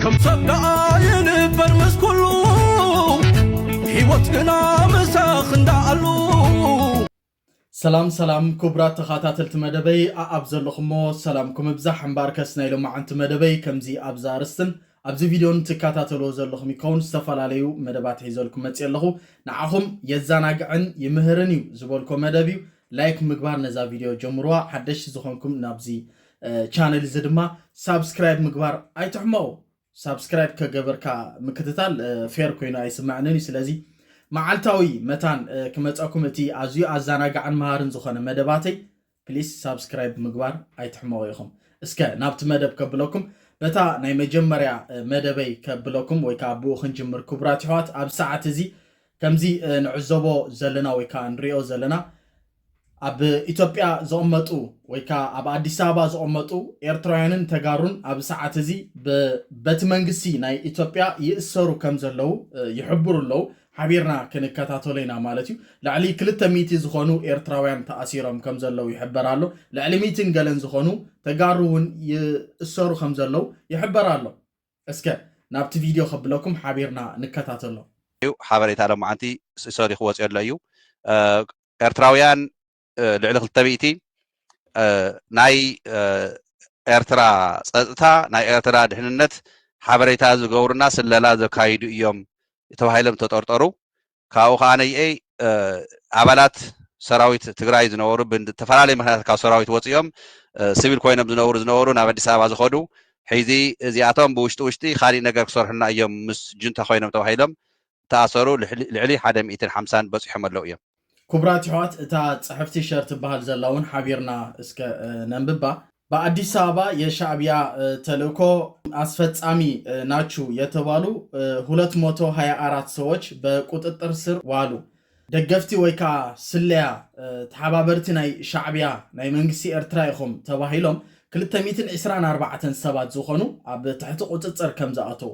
ከም ሰብ ደኣ ይንበር ምስ ኩሉ ህይወት ግና ምሳኽ እንዳኣሉ ሰላም ሰላም ክቡራት ተኸታተልቲ መደበይ ኣኣብ ዘለኹሞ ሰላምኩም እብዛሕ እምበር ከስ ናይ ሎማዓንቲ መደበይ ከምዚ ኣብዛ ኣርስትን ኣብዚ ቪድዮን ትከታተልዎ ዘለኹም ይከውን ዝተፈላለዩ መደባት ሒዘልኩም መፅእ ኣለኹ ንዓኹም የዘናግዕን ይምህርን እዩ ዝበልኮ መደብ እዩ ላይክ ምግባር ነዛ ቪድዮ ጀምርዋ ሓደሽቲ ዝኾንኩም ናብዚ ቻነል እዚ ድማ ሳብስክራይብ ምግባር ኣይትሕመቑ ሳብስክራይብ ከገበርካ ምክትታል ፌር ኮይኑ ኣይስመዐንን እዩ ስለዚ መዓልታዊ መታን ክመፀኩም እቲ ኣዝዩ ኣዘናጋዕን መሃርን ዝኾነ መደባተይ ፕሊስ ሳብስክራይብ ምግባር ኣይትሕመቑ ኢኹም እስከ ናብቲ መደብ ከብለኩም በታ ናይ መጀመርያ መደበይ ከብለኩም ወይ ከዓ ብኡ ክንጅምር ክቡራት ይሕዋት ኣብ ሰዓት እዚ ከምዚ ንዕዘቦ ዘለና ወይ ከዓ ንሪኦ ዘለና ኣብ ኢትዮጵያ ዝቕመጡ ወይ ከዓ ኣብ ኣዲስ ኣበባ ዝቕመጡ ኤርትራውያንን ተጋሩን ኣብ ሰዓት እዚ በቲ መንግስቲ ናይ ኢትዮጵያ ይእሰሩ ከም ዘለው ይሕብሩ ኣለው። ሓቢርና ክንከታተሎ ኢና ማለት እዩ። ልዕሊ ክልተ ሚእቲ ዝኾኑ ኤርትራውያን ተኣሲሮም ከም ዘለው ይሕበር ኣሎ። ልዕሊ ሚእትን ገለን ዝኾኑ ተጋሩ እውን ይእሰሩ ከም ዘለው ይሕበር ኣሎ። እስከ ናብቲ ቪድዮ ከብለኩም ሓቢርና ንከታተሎ። እዩ ሓበሬታ ሎማዓንቲ እሰሪ ክወፅኦሎ እዩ ኤርትራውያን ልዕሊ ክልተ ሚእቲ ናይ ኤርትራ ጸጥታ ናይ ኤርትራ ድሕንነት ሓበሬታ ዝገብሩና ስለላ ዘካይዱ እዮም ተባሂሎም ተጠርጠሩ ካብኡ ከዓ ነይኤይ ኣባላት ሰራዊት ትግራይ ዝነበሩ ብተፈላለዩ ምክንያት ካብ ሰራዊት ወፂኦም ስቪል ኮይኖም ዝነብሩ ዝነበሩ ናብ ኣዲስ ኣበባ ዝኸዱ ሕዚ እዚኣቶም ብውሽጢ ውሽጢ ካሊእ ነገር ክሰርሑና እዮም ምስ ጁንታ ኮይኖም ተባሂሎም ተኣሰሩ ልዕሊ ሓደ ሚእትን ሓምሳን በጺሖም ኣለው እዮም። ኩቡራት የሕዋት እታ ጽሕፍቲ ሸር ትበሃል ዘላ ውን ሓቢርና እስከ ነንብባ። በኣዲስ ኣበባ የሻእቢያ ተልእኮ ኣስፈጻሚ ናቹ የተባሉ ሁለት መቶ ሃያ ኣራት ሰዎች በቁጥጥር ስር ዋሉ። ደገፍቲ ወይ ከኣ ስለያ ተሓባበርቲ ናይ ሻዕቢያ ናይ መንግስቲ ኤርትራ ኢኹም ተባሂሎም ክልተ ሚእትን ዕስራን ኣርባዕተን ሰባት ዝኾኑ ኣብ ትሕቲ ቁጽጽር ከምዝኣተው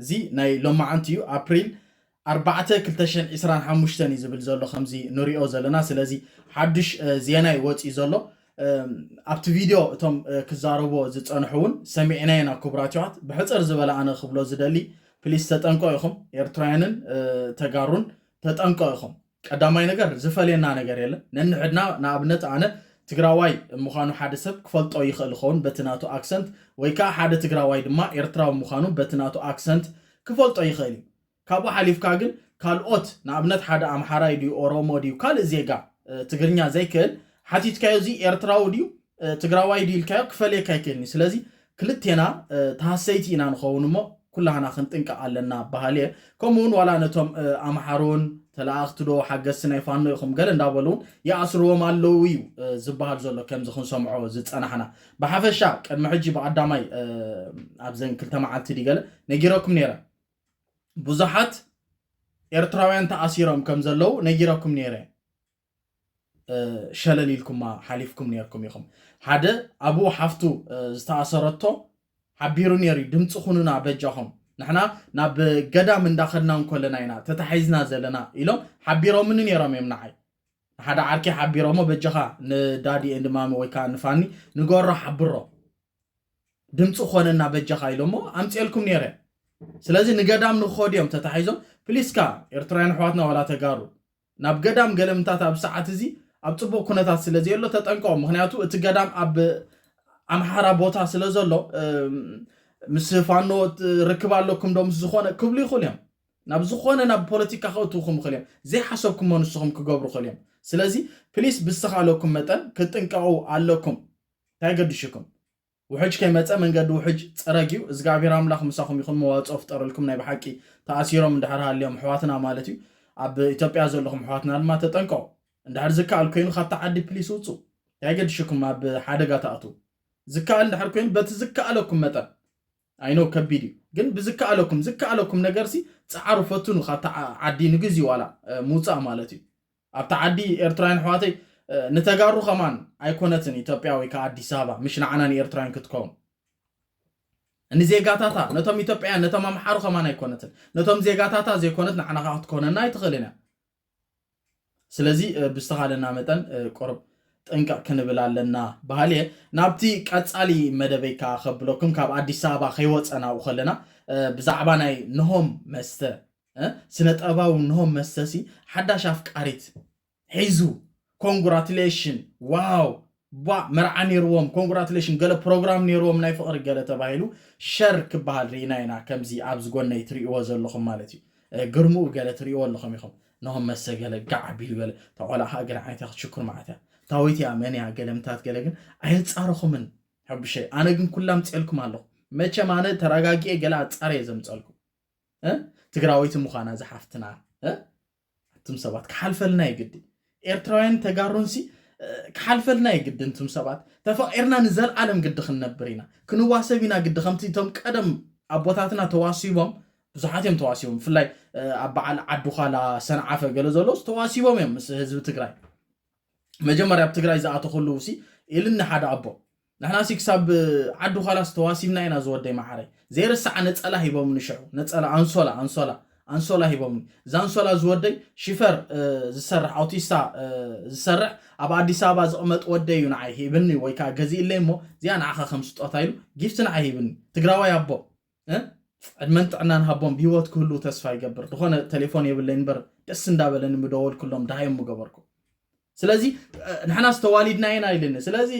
እዚ ናይ ሎማዓንቲ እዩ ኣፕሪል ኣርባዕተ ክልተ ሽሕን ዒስራን ሓሙሽተን እዩ ዝብል ዘሎ ከምዚ ንሪኦ ዘለና ስለዚ ሓዱሽ ዜናይ ወፂኡ ዘሎ ኣብቲ ቪድዮ እቶም ክዛረብዎ ዝፀንሑ እውን ሰሚዕናዮ ኢና ክቡራት ይዋት ብሕፅር ዝበለ ኣነ ክብሎ ዝደሊ ፕሊስ ተጠንቀ ኢኹም ኤርትራውያንን ተጋሩን ተጠንቀ ኢኹም ቀዳማይ ነገር ዝፈልየና ነገር የለን ነንሕድና ንኣብነት ኣነ ትግራዋይ ምዃኑ ሓደ ሰብ ክፈልጦ ይኽእል ይኸውን በቲ ናቱ ኣክሰንት ወይ ከኣ ሓደ ትግራዋይ ድማ ኤርትራዊ ምዃኑ በቲ ናቱ ኣክሰንት ክፈልጦ ይኽእል እዩ ካብኡ ሓሊፍካ ግን ካልኦት ንኣብነት ሓደ ኣምሓራይ ድዩ ኦሮሞ ድዩ ካልእ ዜጋ ትግርኛ ዘይክእል ሓቲትካዮ እዚ ኤርትራዊ ድዩ ትግራዋይ ድዩ ኢልካዮ ክፈልየካ ኣይክእልን እዩ ስለዚ ክልቴና ተሃሰይቲ ኢና ንኸውን እሞ ኩላህና ክንጥንቀቕ ኣለና በሃሊ እየ ከምኡ እውን ዋላ ነቶም ኣምሓሩ እውን ተለኣኽቲ ዶ ሓገዝቲ ናይ ፋኖ ኢኹም ገለ እንዳበሉ እውን ይኣስርዎም ኣለዉ እዩ ዝበሃል ዘሎ ከምዚ ክንሰምዖ ዝፀናሕና ብሓፈሻ ቅድሚ ሕጂ ብቀዳማይ ኣብዘን ክልተ መዓልቲ ድዩ ገለ ነጊረኩም ነይረ ብዙሓት ኤርትራውያን ተኣሲሮም ከም ዘለዉ ነጊረኩም ነይረ ሸለል ኢልኩማ ሓሊፍኩም ኔርኩም ኢኹም። ሓደ ኣብኡ ሓፍቱ ዝተኣሰረቶ ሓቢሩ ኔሩ'ዩ ድምጺ ኩኑና በጃኹም ንሕና ናብ ገዳም እንዳኸድና እንኮለና ኢና ተታሒዝና ዘለና ኢሎም ሓቢሮምኒ ኔሮም እዮም ንዓይ ንሓደ ዓርከይ ሓቢሮሞ በጃኻ ንዳዲ ኤንድ ማሚ ወይ ከዓ ንፋኒ ንገሮ ሓብሮ ድምፂ ኮነና በጃኻ ኢሎሞ ኣምፅኤልኩም ነይረ ስለዚ ንገዳም ንክኸዱ እዮም ተታሒዞም ፕሊስካ ኤርትራውያን ኣሕዋትና ወላ ተጋሩ ናብ ገዳም ገለምታት ኣብ ሰዓት እዚ ኣብ ጽቡቅ ኩነታት ስለ ዘየሎ ተጠንቀቁ ምክንያቱ እቲ ገዳም ኣብ ኣምሓራ ቦታ ስለ ዘሎ ምስ ፋኖ ርክብ ኣለኩም ዶ ምስ ዝኾነ ክብሉ ይኽእሉ እዮም ናብ ዝኾነ ናብ ፖለቲካ ክእትውኩም ይኽእል እዮም ዘይሓሰብኩሞ ንስኹም ክገብሩ ይኽእል እዮም ስለዚ ፕሊስ ብዝተኻለኩም መጠን ክትጥንቀቑ ኣለኩም እንታይ ገድሽኩም ውሕጅ ከይመጸ መንገዲ ውሕጅ ጸረግዩ እዝግኣብሄር ኣምላኽ ምሳኹም ይኹን መዋጽኦ ፍጠረልኩም ናይ ብሓቂ ተኣሲሮም እንድሕር ሃልዮም ኣሕዋትና ማለት እዩ ኣብ ኢትዮጵያ ዘለኹም ኣሕዋትና ድማ ተጠንቀቑ እንድሕር ዝከኣል ኮይኑ ካብታ ዓዲ ፕሊስ ውጹ እንታይ ገድሽኩም ኣብ ሓደጋ ትኣትዉ ዝከኣል እንድሕር ኮይኑ በቲ ዝከኣለኩም መጠን ኣይ ኖው ከቢድ እዩ ግን ብዝከኣለኩም ዝከኣለኩም ነገርሲ ጸዓሩ ፈትኑ ካብታ ዓዲ ንግዚ ዋላ ምውጻእ ማለት እዩ ኣብታ ዓዲ ኤርትራውያን ኣሕዋተይ ንተጋሩ ከማን ኣይኮነትን ኢትዮጵያ ወይ ከዓ ኣዲስ ኣበባ ምሽ ንዓና ንኤርትራውያን ክትከውን ንዜጋታታ ነቶም ኢትዮጵያውያን ነቶም ኣምሓሩ ከማን ኣይኮነትን ነቶም ዜጋታታ ዘይኮነት ንዓና ከዓ ክትኮነና ኣይትኽእልን እያ ስለዚ ብዝተኻለና መጠን ቁርብ ጥንቅቕ ክንብል ኣለና በሃሊ እየ ናብቲ ቀጻሊ መደበይ ከዓ ከብለኩም ካብ ኣዲስ ኣበባ ከይወፀናኡ ከለና ብዛዕባ ናይ ንሆም መስተ ስነ ጠበባዊ ንሆም መስተሲ ሓዳሽ ኣፍቃሪት ሒዙ ኮንግራትሌሽን ዋው ቧእ መርዓ ነይርዎም ኮንግራትሌሽን ገለ ፕሮግራም ነይርዎም ናይ ፍቕሪ ገለ ተባሂሉ ሸር ክበሃል ርኢና ኢና ከምዚ ኣብዚ ጎነይ ትርእይዎ ዘለኹም ማለት እዩ ግርምኡ ገለ ትርእይዎ ኣለኹም ኢኹም ነሆም መሰ ገለ ጋዕ ኣቢሉ ገለ እታ ቆልዓ ከዓ ገለ ዓይነት እያ ክትሽኩር መዓት እያ ታወይቲ እያ መን እያ ገለ ምታት ገለ ግን ኣየፃረኹምን ሕቡሸይ ኣነ ግን ኩላ ምፅኤልኩም ኣለኹ መቸም ኣነ ተረጋጊኤ ገለ ኣፃርየ ዘምፀልኩም ትግራወይቲ ምዃና ዝሓፍትና እትም ሰባት ክሓልፈልና ይግዲ ኤርትራውያን ተጋሩንሲ ክሓልፈልና ይግዲ እንትም ሰባት ተፈቂርና ንዘለዓለም ግዲ ክንነብር ኢና ክንዋሰብ ኢና ግዲ ከምቲ እቶም ቀደም ኣቦታትና ተዋሲቦም ብዙሓት እዮም ተዋሲቦም ብፍላይ ኣብ በዓል ዓዲ ዃላ ሰንዓፈ ገለ ዘሎስ ተዋሲቦም እዮም ምስ ህዝቢ ትግራይ መጀመርያ ኣብ ትግራይ ዝኣቶ ከለዉ ሲ ኢልኒ ሓደ ኣቦ ንሕና ሲ ክሳብ ዓዲ ዃላስ ተዋሲብና ኢና ዝወደይ መዓረይ ዘይርሳዓ ነፀላ ሂቦምኒ ሽዑ ነፀላ ኣንሶላ ኣንሶላ ኣንሶላ ሂቦምኒ እዛ ኣንሶላ ዝወደይ ሽፈር ዝሰርሕ ኣውቲስታ ዝሰርሕ ኣብ ኣዲስ ኣበባ ዝቕመጥ ወደይ እዩ ንዓይ ሂብኒ ወይ ከዓ ገዚእለይ እሞ እዚኣ ንዓኻ ከም ስጦታ ኢሉ ጊፍቲ ንዓይ ሂብኒ ትግራዋይ ኣቦ ዕድመን ጥዕናን ሃቦም ብሂወት ክህልው ተስፋ ይገብር ድኾነ ቴሌፎን የብለይ እንበር ደስ እንዳበለኒ ምደወልክሎም ድሃዮም ምገበርኩ ስለዚ ንሕናስ ተዋሊድና ኢና ኢልኒ ስለዚ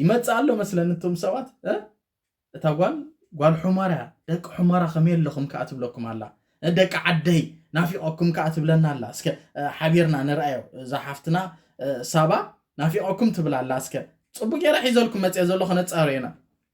ይመፅእ ኣሎ መስለኒ እቶም ሰባት እታ ጓል ጓል ሑመራ እያ ደቂ ሑመራ ከመይ ኣለኹም ከዓ ትብለኩም ኣላ ደቂ ዓደይ ናፊቐኩም ከዓ ትብለና ኣላ እስከ ሓቢርና ንርኣዮ እዛ ሓፍትና ሳባ ናፊቐኩም ትብል ኣላ እስከ ፅቡቅ ገይረ ሒዘልኩም መፅአ ዘሎ ከነፃርዮ ኢና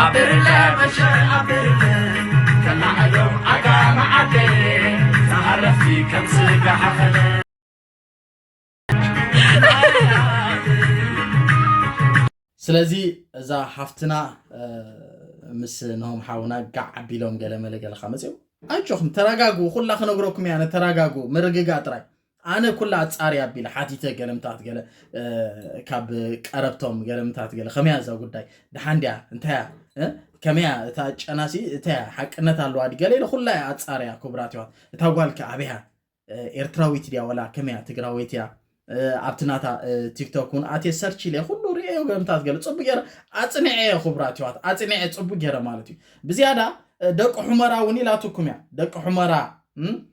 ኣብርለ መሸ ኣብርለ ከላዕሎም ኣጋመ ዓደየ ዝሃረፍቲ ከም ስጋ ሓኸለ ስለዚ እዛ ሓፍትና ምስ ንሆም ሓውና ጋዕ ኣቢሎም ገለመለ ገለካ መፅኦም ኣጆኹም ተረጋግቡ ኩላ ክነግረኩም እያ ተረጋግቡ ምርግጋ ጥራይ ኣነ ኩላ ኣጻሪ ኣቢለ ሓቲተ ገለምታት ገለ ካብ ቀረብቶም ገለምታት ገለ ከመያ እዛ ጉዳይ ድሓን ድያ እንታያ ከመያ እታ ጨናሲ እታያ ሓቅነት ኣለዋ ዲ ገለ ኢለ ኩላ እያ ኣጻርያ ክቡራት ይዋት እታ ጓልከ ኣበያ ኤርትራዊት ድያ ወላ ከመያ ትግራወይት እያ ኣብቲ ናታ ቲክቶክ እውን ኣትየ ሰርች ኢለ ኩሉ ርእዮ ገለምታት ገለ ፅቡቅ ገይረ ኣፅኒዐ እየ ክቡራት ይዋት ኣፅኒዐ ፅቡቅ ገይረ ማለት እዩ ብዝያዳ ደቂ ሑመራ እውን ኢላትኩም እያ ደቂ ሑመራ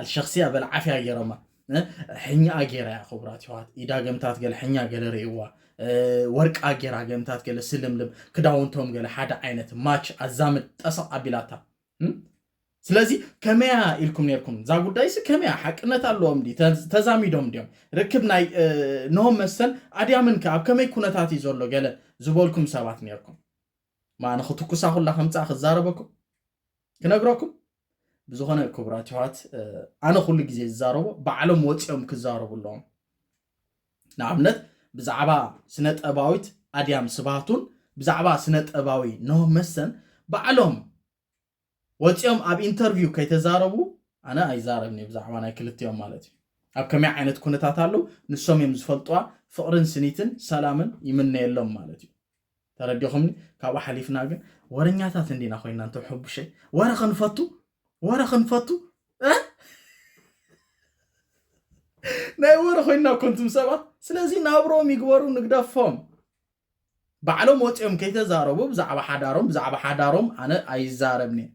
ኣልሸክስያ በል ዓፍያ ገይሮማ ሕኛኣ ገይራ እያ ክቡራት ይዋት ኢዳ ገምታት ገለ ሕኛ ገለ ርእዋ ወርቃ ገይራ ገምታት ገለ ስልምልም ክዳውንቶም ገለ ሓደ ዓይነት ማች ኣዛምድ ጠሰቕ ኣቢላታ ስለዚ ከመያ ኢልኩም ነርኩም እዛ ጉዳይሲ ከመያ ሓቅነት ኣለዎም ዲ ተዛሚዶም እንዲዮም ርክብ ናይ ኖሆም መስተን ኣድያምን ከ ኣብ ከመይ ኩነታት እዩ ዘሎ ገለ ዝበልኩም ሰባት ነርኩም ማዕነ ክትኩሳ ኩላ ከምፃ ክዛረበኩም ክነግረኩም ብዝኾነ ክቡራት ይሕዋት ኣነ ኩሉ ግዜ ዝዛረቦ ባዕሎም ወፂኦም ክዛረቡ ኣለዎም ንኣብነት ብዛዕባ ስነ ጠባዊት ኣድያም ስባቱን ብዛዕባ ስነ ጠባዊ ኖህ መሰን ባዕሎም ወጺኦም ኣብ ኢንተርቪው ከይተዛረቡ ኣነ ኣይዛረብን እየ ብዛዕባ ናይ ክልቲኦም ማለት እዩ ኣብ ከመይ ዓይነት ኩነታት ኣለው ንሶም እዮም ዝፈልጥዋ ፍቕርን ስኒትን ሰላምን ይምነየሎም ማለት እዩ ተረዲኹምኒ ካብኡ ሓሊፍና ግን ወረኛታት እንዲና ኮይና እንተ ሕቡሸይ ወረ ክንፈቱ ወረ ክንፈቱ ናይ ወረ ኮይና ኮንቱም ሰባት ስለዚ ናብሮም ይግበሩ ንግደፎም ባዕሎም ወጺኦም ከይተዛረቡ ብዛዕባ ሓዳሮም ብዛዕባ ሓዳሮም ኣነ ኣይዛረብንየ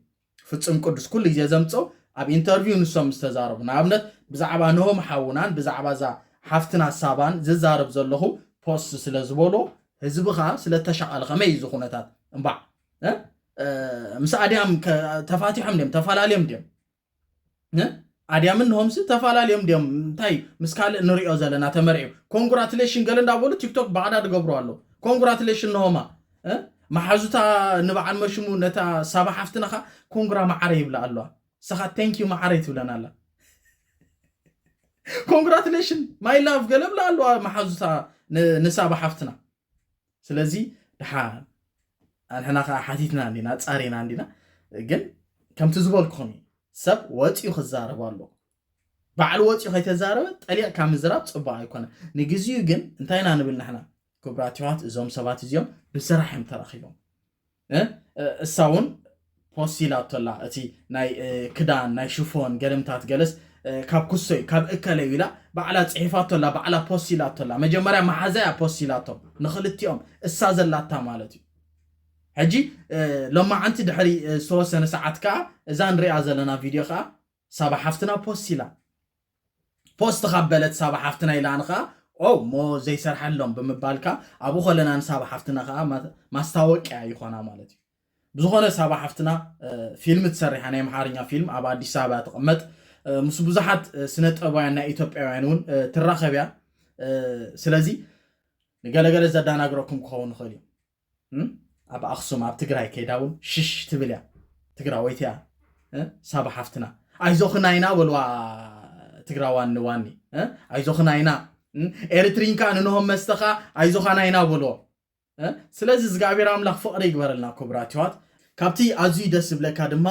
ፍጽም ቅዱስ ኩሉ ግዜ ዘምጽኦ ኣብ ኢንተርቪው ንሶም ዝተዛረቡ ንኣብነት ብዛዕባ ንሆም ሓውናን ብዛዕባ እዛ ሓፍትና ሳባን ዝዛረብ ዘለኹ ፖስት ስለ ዝበሎ ህዝቢ ከኣ ስለ ተሻቐለ ከመይ እዩ እዚ ኩነታት እምባዕ ምስ ኣድያም ተፋቲሖም ድም ተፈላለዮም ድም ኣድያምን ንሆምሲ ተፈላለዮም ድዮም እንታይ ምስ ካልእ ንሪኦ ዘለና ተመርዕዩ ኮንግራትሌሽን ገለ እንዳበሉ ቲክቶክ ባዕዳ ድገብሩ ኣለዉ ኮንግራትሌሽን ንሆማ መሓዙታ ንበዓል መሽሙ ነታ ሳባ ሓፍትና ኸ ኮንግራ መዓረ ይብላ ኣለዋ ንስኻ ቴንኪዩ መዓረ ይትብለን ኣላ ኮንግራትሌሽን ማይ ላቭ ገለ ብላ ኣለዋ መሓዙታ ንሳባ ሓፍትና ስለዚ ድሓ ኣንሕና ከዓ ሓቲትና እንዲና ፃሪና እንዲና ግን ከምቲ ዝበልኩም እዩ ሰብ ወፂኡ ክዛረብ ኣለዎ ባዕሉ ወፂኡ ከይተዛረበ ጠሊዕካ ምዝራብ ፅቡቅ ኣይኮነ ንግዚኡ ግን እንታይ ኢና ንብል ንሕና ክቡራት ይዋት እዞም ሰባት እዚኦም ብስራሕ እዮም ተራኪቦም እሳ ውን ፖስት ኢላቶ ኣላ እቲ ናይ ክዳን ናይ ሽፎን ገለምታት ገለስ ካብ ኩሶ እዩ ካብ እከለ እዩ ኢላ ባዕላ ጽሒፋቶ ኣላ ባዕላ ፖስት ኢላቶ ኣላ መጀመርያ መሓዛ እያ ፖስት ኢላቶ ንክልቲኦም እሳ ዘላታ ማለት እዩ ሕጂ ሎማዓንቲ ድሕሪ ዝተወሰነ ሰዓት ከኣ እዛ ንሪኣ ዘለና ቪድዮ ከኣ ሳባ ሓፍትና ፖስት ኢላ ፖስት ካብ በለት ሳባ ሓፍትና ኢላን ከኣ ኦ እሞ ዘይሰርሐሎም ብምባልካ ኣብኡ ከለና ንሳባ ሓፍትና ከኣ ማስታወቅያ ይኾና ማለት እዩ ብዝኾነ ሳባ ሓፍትና ፊልም ትሰሪሓ ናይ ኣምሓርኛ ፊልም ኣብ ኣዲስ ኣበባ ትቕመጥ ምስ ብዙሓት ስነ ጥበባውያን ናይ ኢትዮጵያውያን እውን ትራኸብ እያ ስለዚ ንገለገለ ዘዳናግረኩም ክኸውን ይኽእል እዩ ኣብ ኣክሱም ኣብ ትግራይ ከይዳ እውን ሽሽ ትብል እያ ትግራወይቲ እያ ሳባ ሓፍትና ኣይዞኽና ኢና በልዋ ትግራዋን ንዋኒ ኣይዞኽና ኢና ኤርትሪን ከዓ ንንሆም መስተ ከዓ ኣይዞኻና ኢና በልዎ ስለዚ እግዚኣብሔር ኣምላኽ ፍቕሪ ይግበረልና ክቡራት ይዋት ካብቲ ኣዝዩ ደስ ዝብለካ ድማ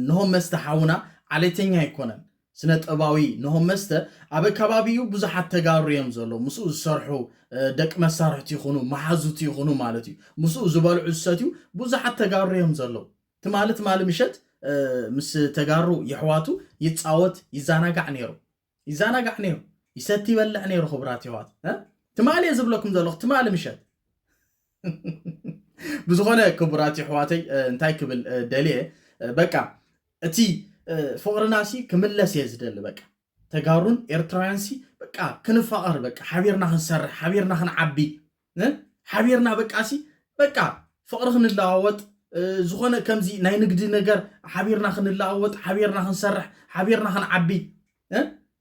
ንሆም መስተ ሓውና ዓሌተኛ ኣይኮነን ስነጥበባዊ ኖሆም መስተ ኣብ ኣካባቢኡ ብዙሓት ተጋሩ እዮም ዘለዉ ምስኡ ዝሰርሑ ደቂ መሳርሕቱ ይኹኑ መሓዙቱ ይኹኑ ማለት እዩ ምስኡ ዝበልዑ ዝሰትዩ ብዙሓት ተጋሩ እዮም ዘለዉ ትማሊ ትማሊ ምሸት ምስ ተጋሩ የሕዋቱ ይጻወት ይዛናጋዕ ነይሩ ይዛናጋዕ ነይሩ ይሰቲ ይበልዕ ነይሩ ክቡራት የሕዋት ትማሊ እየ ዝብለኩም ዘለኹ ትማሊ ምሸት ብዝኾነ ክቡራት የሕዋተይ እንታይ ክብል ደልየ በቃ እቲ ፍቕርና ሲ ክምለስ እየ ዝደሊ በቃ ተጋሩን ኤርትራውያን ሲ በቃ ክንፋቐር በቃ ሓቢርና ክንሰርሕ ሓቢርና ክንዓቢ ሓቢርና በቃ ሲ በቃ ፍቕሪ ክንለዋወጥ ዝኾነ ከምዚ ናይ ንግዲ ነገር ሓቢርና ክንለዋወጥ ሓቢርና ክንሰርሕ ሓቢርና ክንዓቢ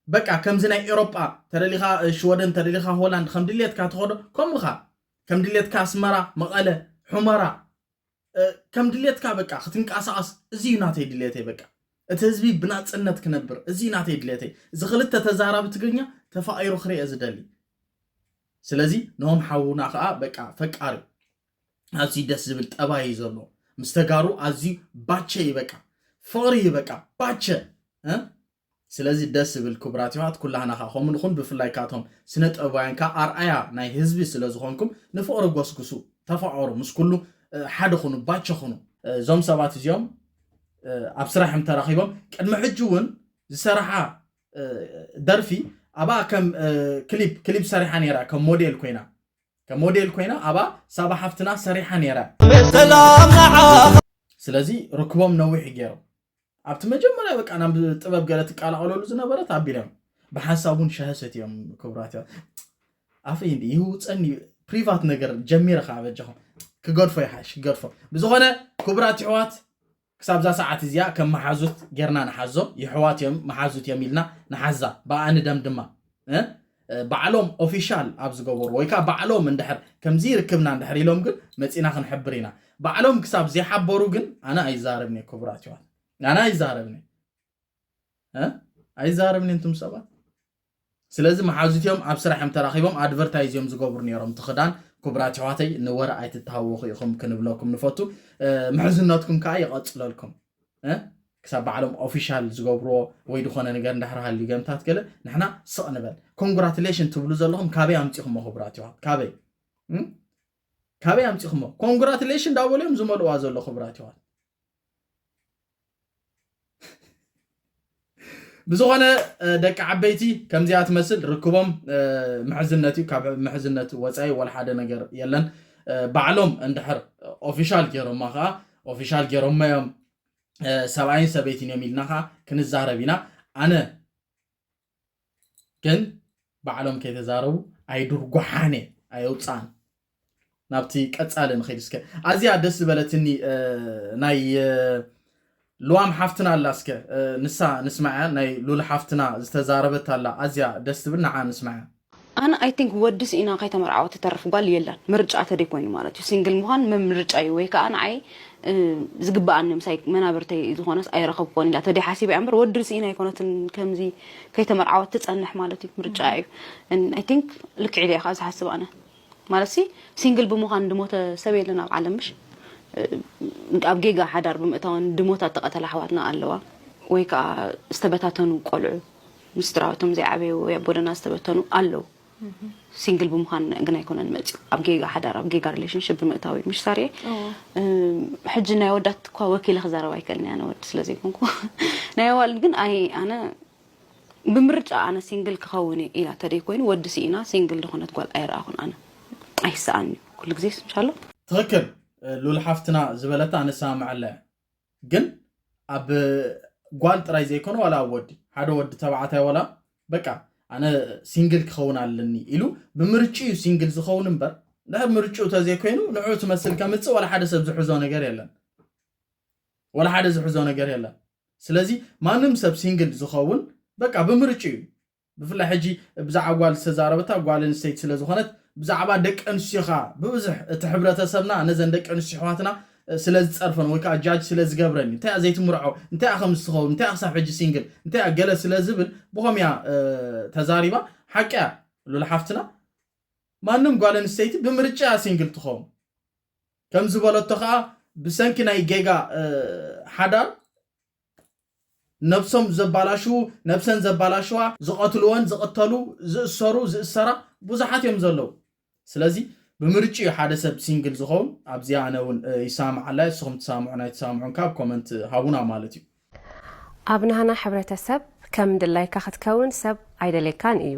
በቃ ከምዚ ናይ ኤሮጳ ተደሊኻ ሽወደን ተደሊኻ ሆላንድ ከም ድሌትካ ትኸዶ ከምኡኻ ከም ድሌትካ ኣስመራ መቐለ ሑመራ ከም ድሌትካ በቃ ክትንቀሳቐስ እዚ እዩ ናተይ ድሌተይ በቃ እቲ ህዝቢ ብናፅነት ክነብር እዚ እዩ ናተይ ድሌተይ እዚ ክልተ ተዛራቢ ትግርኛ ተፋቒሩ ክርአ ዝደሊ ስለዚ ነሆም ሓውና ከዓ በቃ ፈቃሪ ኣዝዩ ደስ ዝብል ጠባይ እዩ ዘለዎ ምስ ተጋሩ ኣዝዩ ባቸ እዩ በቃ ፍቕሪ እዩ በቃ ባቸ ስለዚ ደስ ዝብል ክቡራት የሕዋት ኩላህና ከኣ ከምኡ ንኹን ብፍላይ ከኣ እቶም ስነ ጥበባውያን ከኣ ኣርኣያ ናይ ህዝቢ ስለ ዝኾንኩም ንፍቕሪ ጎስጉሱ ተፋቐሩ ምስ ኩሉ ሓደ ኩኑ ባቸ ኩኑ። እዞም ሰባት እዚኦም ኣብ ስራሕ እዮም ተራኺቦም ቅድሚ ሕጂ እውን ዝሰራሓ ደርፊ ኣብኣ ከም ክሊፕ ክሊፕ ሰሪሓ ነይራ ከም ሞዴል ኮይና ከም ሞዴል ኮይና ኣብኣ ሳባ ሓፍትና ሰሪሓ ነይራ ስለዚ ርክቦም ነዊሕ ገይሩ ኣብቲ መጀመርያ በቃ ናብ ጥበብ ገለ ትቀላቐለሉ ዝነበረት ኣቢሎም ብሓንሳብ እውን ሻሂ ሰትዮም ክብራት እዮም ኣፈይ እንዲ ይህውፀኒ ፕሪቫት ነገር ጀሚረ ከዓ በጃኹም ክገድፎ ይሓሽ ክገድፎ ብዝኾነ ክቡራት ይሕዋት ክሳብዛ ሰዓት እዚኣ ከም መሓዙት ጌርና ንሓዞም ይሕዋት እዮም መሓዙት እዮም ኢልና ንሓዛ ብኣኣ ንደም ድማ ባዕሎም ኦፊሻል ኣብ ዝገበሩ ወይ ከዓ ባዕሎም እንድሕር ከምዚ ርክብና እንድሕር ኢሎም ግን መፂና ክንሕብር ኢና ባዕሎም ክሳብ ዘይሓበሩ ግን ኣነ ኣይዛረብኒ ክቡራት ይዋት ኣነ ኣይዛረብኒ ኣይዛረብኒ እንቱም ሰባት ስለዚ መሓዙትዮም ኣብ ስራሕ እዮም ተራኺቦም ኣድቨርታይዝ እዮም ዝገብሩ ነይሮም እቲ ክዳን ክቡራት ይሕዋተይ ንወረ ኣይትተሃወኹ ኢኹም ክንብለኩም ንፈቱ ምሕዝነትኩም ከዓ ይቐፅለልኩም ክሳብ ባዕሎም ኦፊሻል ዝገብርዎ ወይ ዝኾነ ነገር እንዳሕር ሃልዩ ገምታት ገለ ንሕና ስቕ ንበል ኮንግራትሌሽን ትብሉ ዘለኹም ካበይ ኣምፂኹሞ ክቡራት ይዋት ካበይ ካበይ ኣምፂኹሞ ኮንግራትሌሽን ዳበሉ እዮም ዝመልእዋ ዘሎ ክቡራት ይዋት ብዝኾነ ደቂ ዓበይቲ ከምዚኣ ትመስል ርክቦም ምሕዝነት እዩ ካብ ምሕዝነት ወፃኢ ወላ ሓደ ነገር የለን ባዕሎም እንድሕር ኦፊሻል ገይሮማ ከዓ ኦፊሻል ገይሮማ እዮም ሰብኣይን ሰበይትን እዮም ኢልና ከዓ ክንዛረብ ኢና ኣነ ግን ባዕሎም ከይተዛረቡ ኣይዱርጓሓነ ኣየውጻን ናብቲ ቀጻሊ ንኸይድ እስከ ኣዝያ ደስ ዝበለትኒ ናይ ልዋም ሓፍትና ኣላ እስከ ንሳ ንስማዕያ ናይ ሉል ሓፍትና ዝተዛረበት ኣላ ኣዝያ ደስ ትብል ንዓ ንስማዕያ ኣነ ኣይ ቲንክ ወዲ ስኢና ከይተመርዓወ ትተርፍ ጓል የላን ምርጫ ተደይ ኮይኑ ማለት እዩ ሲንግል ምዃን ምርጫ እዩ ወይ ከዓ ንዓይ ዝግበኣኒ ምሳይ መናብርተይ ዝኾነስ ኣይረኸብኮን ኢላ ተደይ ሓሲበያ እምበር ወዲ ስኢና ኣይኮነትን ከምዚ ከይተመርዓወት ትጸንሕ ማለት እዩ ምርጫ እዩ ኣይ ቲንክ ልክዕ ኢለ ኢኻ ዝሓስብ ኣነ ማለት ሲ ሲንግል ብምዃን ድሞተ ሰብ የለን ኣብ ዓለም ምሽ ኣብ ጌጋ ሓዳር ብምእታወን ድሞታ ተቐተላ ኣሕዋትና ኣለዋ ወይ ከዓ ዝተበታተኑ ቆልዑ ምስድራውቶም ዘይዓበዩ ወይ ኣቦደና ዝተበተኑ ኣለዉ ሲንግል ብምዃን ግን ኣይኮነን መፅኡ ኣብ ጌጋ ሓዳር ኣብ ጌጋ ሪሌሽንሽፕ ብምእታው እዩ ምሽ ሳርየ ሕጂ ናይ ወዳት እኳ ወኪለ ክዛረብ ኣይከልን እያ ነወዲ ስለ ዘይኮንኩ ናይ ኣዋልድ ግን ኣይ ኣነ ብምርጫ ኣነ ሲንግል ክኸውን ኢላ ተደይ ኮይኑ ወዲ ስኢና ሲንግል ዝኾነት ጓል ኣይረኣኹን ኣነ ኣይሰኣን እዩ ኩሉ ግዜ ስንሻሎ ትኽክል ሉል ሓፍትና ዝበለታ ንሰማምዐላ እያ ግን ኣብ ጓል ጥራይ ዘይኮነ ዋላ ኣብ ወዲ ሓደ ወዲ ተባዕታይ ዋላ በቃ ኣነ ሲንግል ክኸውን ኣለኒ ኢሉ ብምርጭኡ እዩ ሲንግል ዝኸውን እምበር ድሕር ምርጭኡ ተዘይኮይኑ ንዑ ትመስል ከምፅእ ዋላ ሓደ ሰብ ዝሕዞ ነገር የለን ዋላ ሓደ ዝሕዞ ነገር የለን ስለዚ ማንም ሰብ ሲንግል ዝኸውን በቃ ብምርጭኡ እዩ ብፍላይ ሕጂ ብዛዕባ ጓል ዝተዛረበታ ጓል ኣንስተይቲ ስለ ዝኾነት ብዛዕባ ደቂ ኣንስትዮ ከኣ ብብዝሕ እቲ ሕብረተሰብና ነዘን ደቂ ኣንስትዮ ኣሕዋትና ስለ ዝጸርፈን ወይ ከኣ ጃጅ ስለ ዝገብረን እዩ እንታይ እያ ዘይትምርዖ እንታይ እያ ከምዚ ትኸውን እንታይ እያ ክሳብ ሕጂ ሲንግል እንታይ እያ ገለ ስለ ዝብል ብኸም እያ ተዛሪባ ሓቂ እያ ሉል ሓፍትና ማንም ጓል ኣንስተይቲ ብምርጫ እያ ሲንግል ትኸውን ከም ዝበለቶ ከኣ ብሰንኪ ናይ ጌጋ ሓዳር ነብሶም ዘባላሽዉ፣ ነብሰን ዘባላሽዋ፣ ዝቐትልወን ዝቕተሉ፣ ዝእሰሩ ዝእሰራ ብዙሓት እዮም ዘለዉ። ስለዚ ብምርጭኡ ሓደ ሰብ ሲንግል ዝኸውን ኣብዚኣ ኣነ እውን ይሳማዓላ እየ ንስኹም ትሳምዑን ኣይትሳምዑን ከኣ ኣብ ኮመንት ሃቡና ማለት እዩ። ኣብ ናህና ሕብረተሰብ ከም ድላይካ ክትከውን ሰብ ኣይደልየካን እዩ።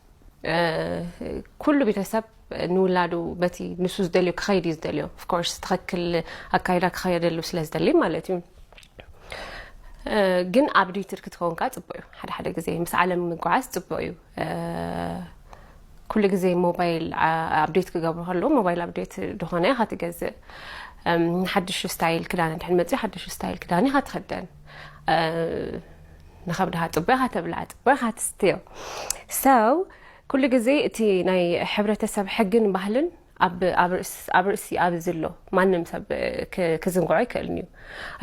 ኩሉ ቤተሰብ ንውላዱ በቲ ንሱ ዝደልዮ ክኸይድ እዩ ዝደልዮ ኦፍኮርስ ትኸክል ኣካይዳ ክኸየደሉ ስለ ዝደልይ ማለት እዩ ግን ኣብ ድይትር ክትከውን ከዓ ፅቡቅ እዩ ሓደ ሓደ ግዜ ምስ ዓለም ምጓዓዝ ፅቡቅ እዩ ኩሉ ግዜ ሞባይል ኣብዴት ክገብሩ ከለዉ ሞባይል ኣብዴት ድኾነ ኢኻ ትገዝእ ሓድሽ ስታይል ክዳን ድሕን መፅኡ ሓድሽ ስታይል ክዳን ኢኻ ትኸደን ንከብድኻ ጽቡቕ ኢኻ ተብልዓ ጽቡቕ ኢኻ ትስትዮ so ኩሉ ግዜ እቲ ናይ ሕብረተሰብ ሕግን ባህልን ኣብ ኣብ ርእስ ኣብ ርእሲ ኣብ ዝሎ ማንም ሰብ ክዝንግዖ ኣይክእልን እዩ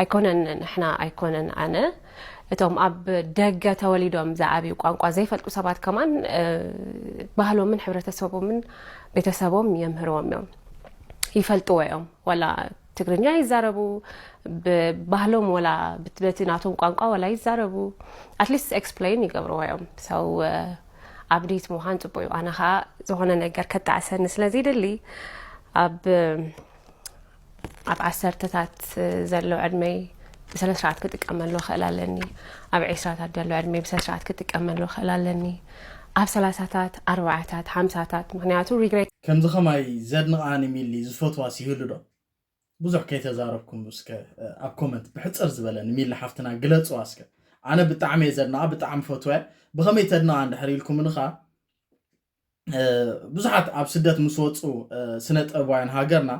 ኣይኮነን ንሕና ኣይኮነን ኣነ እቶም ኣብ ደገ ተወሊዶም ዝዓብዩ ቋንቋ ዘይፈልጡ ሰባት ከማን ባህሎምን ሕብረተሰቦምን ቤተሰቦም የምህርዎም እዮም ይፈልጥዎ እዮም ዋላ ትግርኛ ይዛረቡ ብባህሎም ወላ በቲ ናቶም ቋንቋ ወላ ይዛረቡ ኣትሊስት ኤክስፕለይን ይገብርዎ እዮም ሰው ኣብዴት ምዃን ፅቡቅ እዩ ኣነ ከዓ ዝኾነ ነገር ከጣዕሰኒ ስለዘይደሊ ኣብ ኣብ ዓሰርተታት ዘሎ ዕድመይ ብስነ ስርዓት ክጥቀመሉ ክእል ኣለኒ ኣብ ዒስራታት ዘሎ ዕድመይ ብስነ ስርዓት ክጥቀመሉ ክእል ኣለኒ ኣብ ሰላሳታት ኣርባዓታት ሓምሳታት ምክንያቱ ሪግሬት ከምዚ ከማይ ዘድንቃ ን ሚሊ ዝፈትዋስ ይህሉ ዶ ብዙሕ ከይተዛረብኩም እስከ ኣብ ኮመንት ብሕጽር ዝበለ ን ሚሊ ሓፍትና ግለጽዋ እስከ ኣነ ብጣዕሚ እየ ዘድንቃ ብጣዕሚ ፈትዋያ ብከመይ ተድንቃ እንድሕር ኢልኩምኒ ከኣ ብዙሓት ኣብ ስደት ምስ ወጹ ስነ ጥበባውያን ሃገርና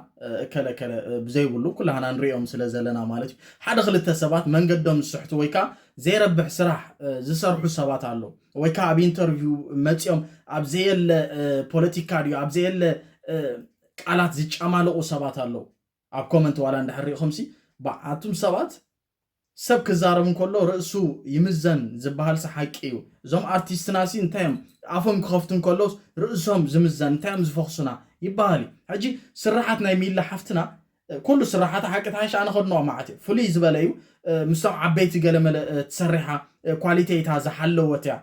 እከለ እከለ ብዘይብሉ ኩላህና ንሪኦም ስለ ዘለና ማለት እዩ ሓደ ክልተ ሰባት መንገዶም ዝስሕቱ ወይ ከዓ ዘይረብሕ ስራሕ ዝሰርሑ ሰባት ኣለዉ ወይ ከኣ ኣብ ኢንተርቪው መጺኦም ኣብ ዘየለ ፖለቲካ ድዩ ኣብ ዘየለ ቃላት ዝጨማልቑ ሰባት ኣለዉ ኣብ ኮመንት ዋላ እንድሕር ሪኢኹምሲ በዓቱም ሰባት ሰብ ክዛረብ እንከሎ ርእሱ ይምዘን ዝበሃልሲ ሓቂ እዩ እዞም ኣርቲስትናሲ እንታይ እዮም ኣፎም ክኸፍቱ እንከሎስ ርእሶም ዝምዘን እንታይ እዮም ዝፈኽሱና ይበሃል እዩ ሕጂ ስራሓት ናይ ሚላ ሓፍትና ኩሉ ስራሓታ ሓቂ ተሓይሽ ኣነ ከድንቆ መዓት እየ ፍልይ ዝበለ እዩ ምስቶም ዓበይቲ ገለመለ ትሰሪሓ ኳሊተይታ ዝሓለወት እያ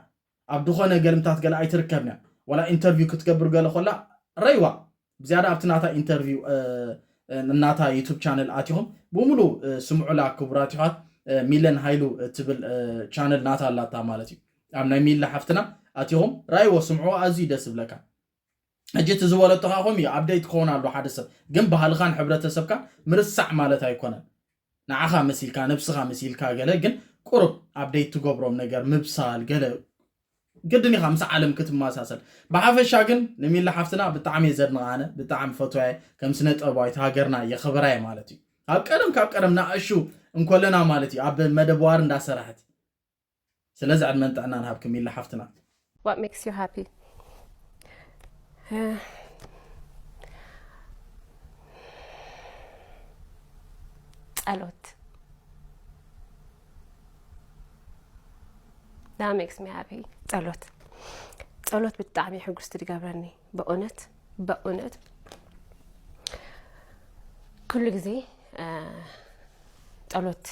ኣብ ድኾነ ገልምታት ገለ ኣይትርከብን እያ ወላ ኢንተርቪው ክትገብር ገለ ኮላ ረይዋ ብዝያዳ ኣብቲ ናታ ኢንተርቪው ናታ ዩቱብ ቻነል ኣቲኹም ብምሉ ስምዑላ ክቡራት ይሓት ሚለን ሃይሉ ትብል ቻነል ናታ ኣላታ ማለት እዩ ኣብ ናይ ሚለ ሓፍትና ኣቲኹም ራይዎ ስምዑ ኣዝዩ ደስ ዝብለካ ሕጂ እቲ ዝበለቶ ከኣ ከምኡ እዩ ኣብደይት ክኾን ኣለዎ ሓደ ሰብ ግን ባህልኻን ሕብረተሰብካን ምርሳዕ ማለት ኣይኮነን ንዓኻ መሲልካ ነብስኻ መሲልካ ገለ ግን ቁሩብ ኣብደይት ትገብሮም ነገር ምብሳል ገለ ግድን ኢኻ ምስ ዓለም ክትመሳሰል ብሓፈሻ ግን ንሚሊ ሓፍትና ብጣዕሚ እየ ዘድንቓ ኣነ ብጣዕሚ ፈትዋየ ከም ስነ ጥበባዊት ሃገርና የኽብራ እየ ማለት እዩ ካብ ቀደም ካብ ቀደም ንኣሹ እንኮለና ማለት እዩ ኣብ መደብ ዋር እንዳሰራሕት ስለዚ ዕድመን ጥዕናን ሃብኪ ሚሊ ሓፍትና። ዋት ሜክስ ዩ ሃፒ ጸሎት ዳት ሜክስ ሚ ሃፒ ጸሎት ጸሎት ብጣዕሚ ሕጉስቲ ትገብረኒ በእውነት በእውነት ኩሉ ግዜ ጸሎት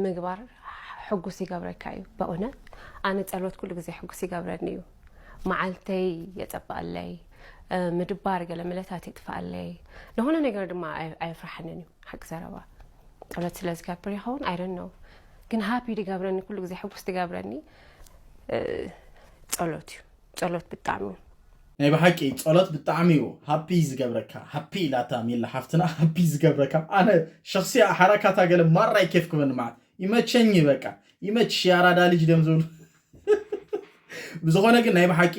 ምግባር ሕጉስ ይገብረካ እዩ በእውነት ኣነ ጸሎት ኩሉ ግዜ ሕጉስ ይገብረኒ እዩ መዓልተይ የጸብቐለይ ምድባር ገለ ምለታት ይጥፍኣለይ ንሆነ ነገር ድማ ኣየፍራሓንን እዩ ሓቂ ዘረባ ጸሎት ስለ ዝገብር ይኸውን ኣይደን ነው ግን ሃፒ ድገብረኒ ኩሉ ግዜ ሕጉስ ድገብረኒ ጸሎት እዩ ጸሎት ብጣዕሚ። ናይ ብሓቂ ጸሎት ብጣዕሚ ዩ ሃፒ ዝገብረካ ሃፒ ኢላታ ሚሊ ሓፍትና ሃፒ ዝገብረካ ኣነ ሸክሲያ ሓራካታ ገለ ማራ ይኬፍክበኒ መዓት ይመቸኝ በቃ ይመችሽ የኣራዳ ልጅ ድዮም ዝብሉ ብዝኾነ ግን ናይ ብሓቂ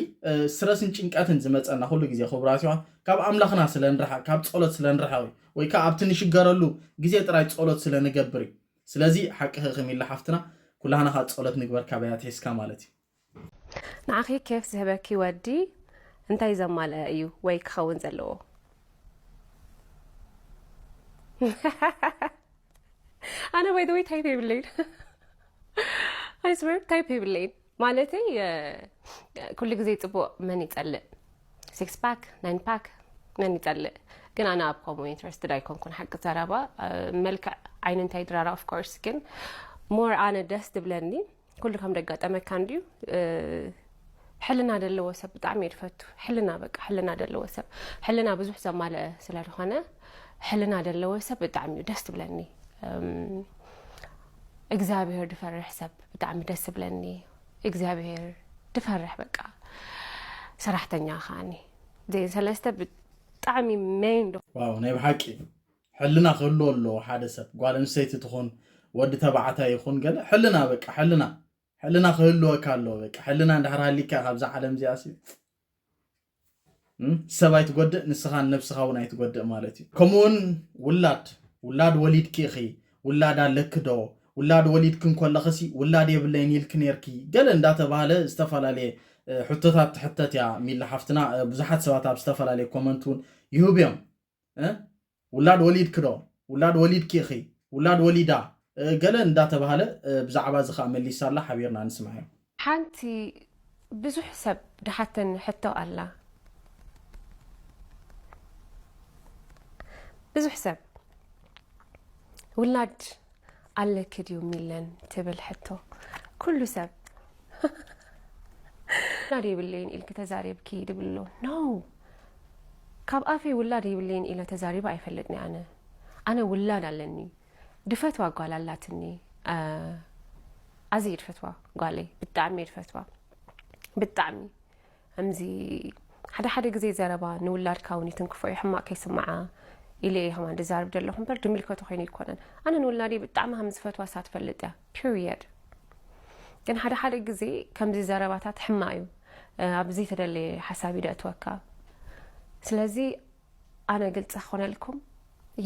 ስረስን ጭንቀትን ዝመፀና ኩሉ ግዜ ክቡራት ይዋ ካብ ኣምላኽና ስለ ንርሓቅ ካብ ጸሎት ስለ ንርሓቅ እዩ ወይ ከዓ ኣብቲ ንሽገረሉ ግዜ ጥራይ ጸሎት ስለ ንገብር እዩ ስለዚ ሓቅኺ ክሚላ ሓፍትና ኩላህና ከዓ ጸሎት ንግበር ካበይ ኣትሒዝካ ማለት እዩ ንዓኺ ኬፍ ዝህበኪ ወዲ እንታይ ዘማልአ እዩ ወይ ክኸውን ዘለዎ? ኣነ ባይ ወይ ታይፕ የብለይን ኣይስበር ታይፕ የብለይን ማለተይ ኩሉ ግዜ ፅቡቅ መን ይፀልእ ሲክስ ፓክ ናይን ፓክ መን ይፀልእ ግን ኣነ ኣብ ከምኡ ኢንትረስትድ ኣይኮንኩን ሓቂ ዘረባ መልክዕ ዓይኒ እንታይ ድራራ ኦፍኮርስ ግን ሞር ኣነ ደስ ትብለኒ ኩሉ ከም ደጋጠመካ እንድዩ ሕልና ዘለዎ ሰብ ብጣዕሚ እየ ድፈቱ ሕልና በቃ ሕልና ዘለዎ ሰብ ሕልና ብዙሕ ዘማልአ ስለ ዝኾነ ሕልና ዘለዎ ሰብ ብጣዕሚ እዩ ደስ ትብለኒ እግዚኣብሄር ድፈርሕ ሰብ ብጣዕሚ ደስ ትብለኒ እግዚኣብሄር ድፈርሕ በቃ ሰራሕተኛ ከዓኒ ዜን ሰለስተ ብጣዕሚ መይን ዶ ናይ ብሓቂ ሕልና ክህልዎ ኣለዎ ሓደ ሰብ ጓል ኣንስተይቲ ትኹን ወዲ ተባዕታይ ይኹን ገለ ሕልና በቃ ሕልና ሕልና ክህልወካ ኣለዎ በቃ ሕልና እንድሕር ሃሊካ ካብዛ ዓለም እዚኣ ሲ ሰብ ኣይትጎድእ ንስኻን ነብስኻ እውን ኣይትጎድእ ማለት እዩ ከምኡ እውን ውላድ ውላድ ወሊድኪ ኢኺ ውላድ ኣለኪ ዶ ውላድ ወሊድኪ እንከለኽሲ ውላድ የብለይን ኢልኪ ነርኪ ገለ እንዳተባሃለ ዝተፈላለየ ሕቶታት ትሕተት እያ ሚላ ሓፍትና ብዙሓት ሰባት ኣብ ዝተፈላለየ ኮመንት እውን ይህቡ እዮም ውላድ ወሊድኪ ዶ ውላድ ወሊድኪ ኢኺ ውላድ ወሊዳ ገለ እንዳተባህለ ብዛዕባ እዚ ከኣ መሊሳ ኣላ ሓቢርና ንስምዓዮ። ሓንቲ ብዙሕ ሰብ ድሓተኒ ሕቶ ኣላ ብዙሕ ሰብ ውላድ ኣለኪ ድዩ ሚለን ትብል ሕቶ ኩሉ ሰብ ውላድ የብለይን ኢልኪ ተዛሪብኪ ድብሎ ኖ ካብ ኣፈይ ውላድ የብለይን ኢለ ተዛሪበ ኣይፈልጥኒ ኣነ ኣነ ውላድ ኣለኒ ድፈትዋ ጓል ኣላትኒ ኣዝየ ድፈትዋ ጓለይ ብጣዕሚ ድፈትዋ ብጣዕሚ ከምዚ ሓደ ሓደ ግዜ ዘረባ ንውላድካ እውን ይትንክፎ እዩ ሕማቅ ከይስምዓ ኢለ እየ ከማን ድዛርብ ደለኹ እምበር ድምልከቶ ኮይኑ ይኮነን ኣነ ንውላደይ ብጣዕሚ ከም ዝፈትዋ እሳ ትፈልጥ እያ ፒሪየድ ግን ሓደ ሓደ ግዜ ከምዚ ዘረባታት ሕማቅ እዩ ኣብ ዘይተደለየ ሓሳብ እዩ ደእትወካ ስለዚ ኣነ ግልፂ ክኾነልኩም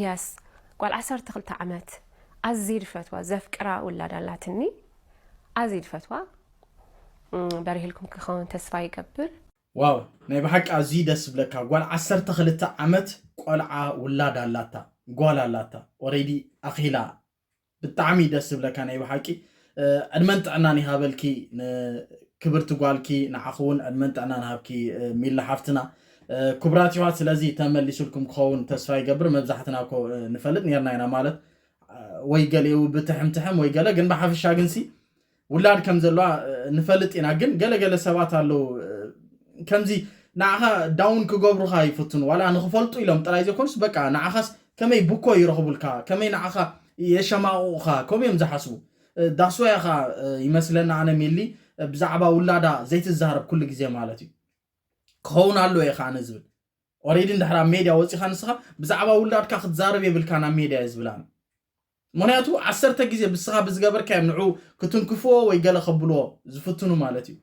የስ ጓል ዓሰርተ ክልተ ዓመት ኣዝየ ድፈትዋ ዘፍቅራ ውላድ ኣላትኒ ኣዝየ ድፈትዋ በሪህልኩም ክኸውን ተስፋ ይገብር። ዋው ናይ ብሓቂ ኣዝዩ ደስ ዝብለካ ጓል ዓሰርተ ክልተ ዓመት ቆልዓ ውላድ ኣላታ ጓል ኣላታ ኦሬዲ ኣኺላ ብጣዕሚ ደስ ዝብለካ ናይ ብሓቂ ዕድመን ጥዕናን ይሃበልኪ ክብርቲ ጓልኪ ንዓኹ እውን ዕድመን ጥዕናን ሃብኪ ሚሊ ሓፍትና ክቡራት ይዋት ስለዚ ተመሊሱልኩም ክኸውን ተስፋ ይገብር መብዛሕትና ኮ ንፈልጥ ነርና ኢና ማለት ወይ ገሌው ብትሕምትሕም ወይ ገለ ግን ብሓፈሻ ግንሲ ውላድ ከም ዘለዋ ንፈልጥ ኢና ግን ገለ ገለ ሰባት ኣለዉ ከምዚ ንዓኻ ዳውን ክገብሩኻ ይፍትኑ ዋላ ንክፈልጡ ኢሎም ጥራይ ዘይኮኑስ በቃ ንዓኻስ ከመይ ብኮ ይረኽቡልካ ከመይ ንዓኻ የሸማቕቑኻ ከምኡ እዮም ዝሓስቡ ዳስዋያ ኸዓ ይመስለና ኣነ ሚሊ ብዛዕባ ውላዳ ዘይትዛረብ ኩሉ ግዜ ማለት እዩ ክኸውን ኣለዎ እየ ከዓ ዝብል ኦሬዲ እንድሕር ኣብ ሜድያ ወፂኻ ንስኻ ብዛዕባ ውላድካ ክትዛረብ የብልካ ናብ ሜድያ እየ ዝብል ኣነ ምኽንያቱ ዓሰርተ ግዜ ብስኻ ብዝገበርካዮም ንዑ ክትንክፍዎ ወይ ገለ ከብልዎ ዝፍትኑ ማለት እዩ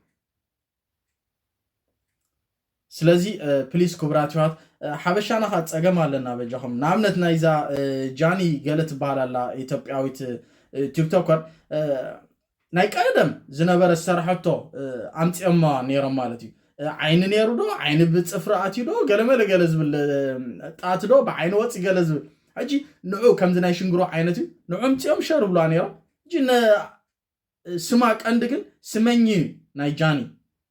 ስለዚ ፕሊስ ክቡራት ይዋት ሓበሻና ከ ፀገም ኣለና በጃኹም ንኣብነት ናይዛ ጃኒ ገለ ትበሃል ኣላ ኢትዮጵያዊት ቲክቶከር ናይ ቀደም ዝነበረ ዝሰራሐቶ ኣምፂኦማ ነይሮም ማለት እዩ ዓይኒ ነይሩ ዶ ዓይኒ ብፅፍሪ ኣትዩ ዶ ገለመለ ገለ ዝብል ጣት ዶ ብዓይኒ ወፂ ገለ ዝብል ሕጂ ንዑ ከምዚ ናይ ሽንግሮ ዓይነት እዩ ንዑ ምፅኦም ሸር ብሉዋ ነይሮም ሕጂ ስማ ቀንዲ ግን ስመኝ እዩ ናይ ጃኒ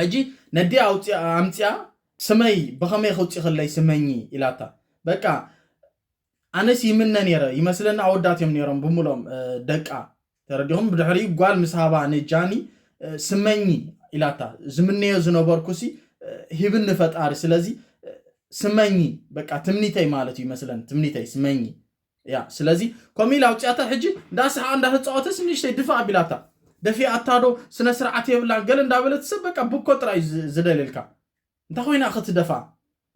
ሕጂ ነዲኣ ኣውፂኣ ኣምፂኣ ስመይ ብኸመይ ከውፂኽለይ ስመኚ ኢላታ በቃ ኣነስ ይምነ ነይረ ይመስለኒ ኣወዳት እዮም ነይሮም ብምሎም ደቃ ተረዲኹም ብድሕሪ ጓል ምስ ሃባ ንጃኒ ስመኚ ኢላታ ዝምነዮ ዝነበርኩሲ ሂብኒ ፈጣሪ ስለዚ ስመኚ በቃ ትምኒተይ ማለት እዩ ይመስለኒ ትምኒተይ ስመኚ እያ ስለዚ ከምኡ ኢላ ኣውፅኣታ ሕጂ እንዳሰሓቐ እንዳተፃወተስ ንእሽተይ ድፋእ ኣቢላታ ደፊኣታ ዶ ስነ ስርዓት የብላን ገለ እንዳበለት ሰብ በቃ ብኮ ጥራይ እዩ ዝደልየልካ እንታይ ኮይና ክትደፍኣ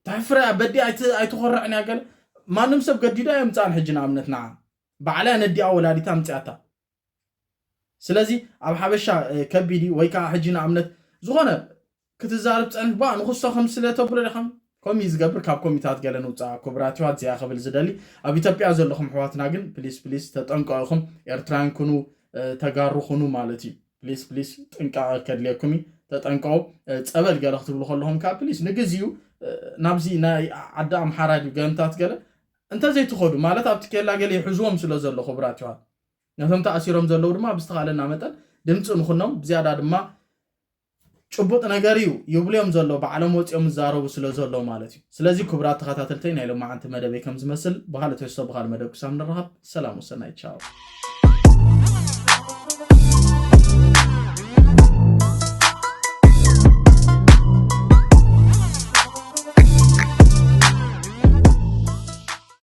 ተሕፍረ እያ በዲ ኣይትኾርዕን እያ ገለ ማንም ሰብ ገዲዳ የምፅኣን ሕጂ ንኣብነት ንዓ ባዕላ ነዲኣ ወላዲታ ኣምፅኣታ ስለዚ ኣብ ሓበሻ ከቢድ እዩ ወይ ከዓ ሕጂ ንኣብነት ዝኾነ ክትዛርብ ፀንሕ ባ ንክሶ ከም ስለ ተብሎ ዲኻም ከምኡ ዝገብር ካብ ኮሚታት ገለ ንውፃእ ክቡራት ይዋት እዚኣ ክብል ዝደሊ ኣብ ኢትዮጵያ ዘለኹም ሕዋትና ግን ፕሊስ ፕሊስ ተጠንቀቑኹም ኤርትራውያን ኩኑ ተጋሩ ኩኑ ማለት እዩ ፕሊስ ፕሊስ ጥንቃቐ ከድልየኩም እዩ ተጠንቀቑ ፀበል ገለ ክትብሉ ከለኹም ከዓ ፕሊስ ንግዚኡ ናብዚ ናይ ዓዲ ኣምሓራ ድዩ ገንታት ገለ እንተዘይትኸዱ ማለት ኣብቲ ኬላ ገለ ይሕዝዎም ስለ ዘሎ ክቡራት ይዋት ነቶም ተኣሲሮም ዘለዉ ድማ ብዝተኻእለና መጠን ድምፂ ንኹኖም ብዝያዳ ድማ ጭቡጥ ነገር እዩ ይብሉዮም ዘሎ ባዕሎም ወፂኦም ዝዛረቡ ስለ ዘሎ ማለት እዩ ስለዚ ክቡራት ተኸታተልተይ ናይ ሎማዓንቲ መደበይ ከም ዝመስል ብካልእ ትሕዝቶ ብካልእ መደብ ክሳብ ንረኻብ ሰላም ወሰናይ ቻው